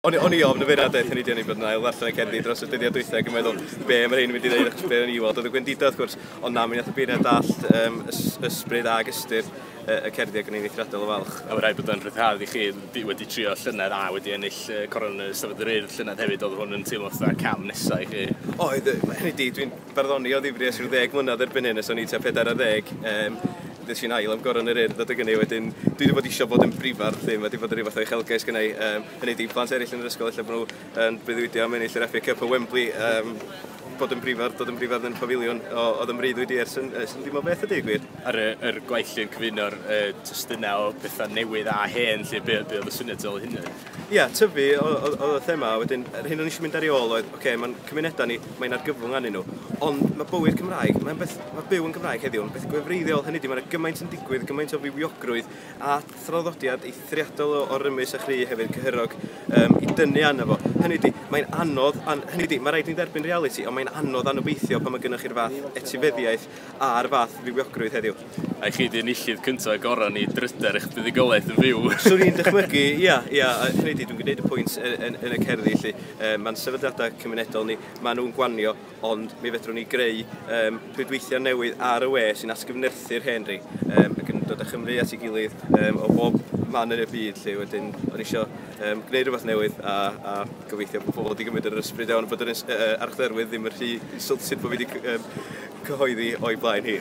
O'n i, o'n i ofn y feirniad daeth hynny di o'n i'n bod yn ail ddarllen y cerddi dros y dyddiad dwythau ac yn meddwl be mae rhain yn mynd i ddeud achos be o'n i weld oedd y gwendidau wrth gwrs ond na mi nath y beirniad dallt um, ys, ysbryd ag ystyr y cerddi ac yn ein eithriadol o falch. A mae rhaid bod yn rhyddhad i chi di, wedi trio llynedd a wedi ennill uh, coron y Stafod yr Urdd llynedd hefyd, oedd hwn yn teimlo fatha cam nesau i chi? Oedd, hynny di, dwi'n Barddoni o ddifri ers rhyw ddeg mlynedd erbyn hyn, ers o'n i tua pedair ar ddeg yym ddes i'n ail am Goron yr Urdd adeg ynny wedyn dwi 'di bod isio bod yn brifardd 'lly ma' 'di bod yn ryw fath o uchelgais gynna' i yym hynny 'di i plant eryll yn yr ysgol ella bo' nhw yn breuddwydio am ennill yr FA Cup o Wembley yym bod yn brifardd dod yn brifardd yn y Pafiliwn o o'dd yn mreuddwyd i ers yn ers yn dim o beth a deud y gwir. Ar y yr gwaith 'lly yn cyfuno'r yy testuna' o betha' newydd a hen 'lly be' be' o'dd y syniad tu ol hynny? Ia, tyfu oedd y thema, a wedyn yr hyn o'n i eisiau mynd ar ei ôl oedd, oce, okay, mae'n cymunedau ni, mae'n argyfwng anyn nhw, ond mae bywyd Cymraeg, mae'n beth, mae byw yn Gymraeg heddiw, yn beth gwefreiddiol, hynny di, mae'n gymaint yn digwydd, gymaint o fywiogrwydd a thraddodiad eithriadol o, o rymus a chri hefyd, cyhyrog, um, i dynnu arno fo. Hynny di, mae'n anodd, an, hynny di, mae rhaid ni dderbyn reality, ond mae'n anodd anobeithio pan mae gennych chi'r fath etifeddiaeth a'r fath fywiogrwydd heddiw. A i chi di enillydd cynta a gora ni dryder eich buddugoliaeth yn fyw. Swn i'n dychmygu, ia, ia, hynny di, dwi'n gwneud y pwynt yn, yn, yn y cerddi, felly, um, mae'n sefydliadau cymunedol ni, maen nhw'n gwanio, ond mi fedrwn ni greu um, rhwydweithiau newydd ar y we sy'n asgyfnerthu'r hen ri, um, ac yn dod â Chymru at ei gilydd um, o bob man yn y byd, lle wedyn, o'n eisiau um, gwneud rhywbeth newydd a, a gobeithio bod pobl wedi gymryd yr ysbryd iawn bod yr uh, archdderwydd ddim yn rhy insulted bod fi wedi um, cyhoeddi o'i blaen hi.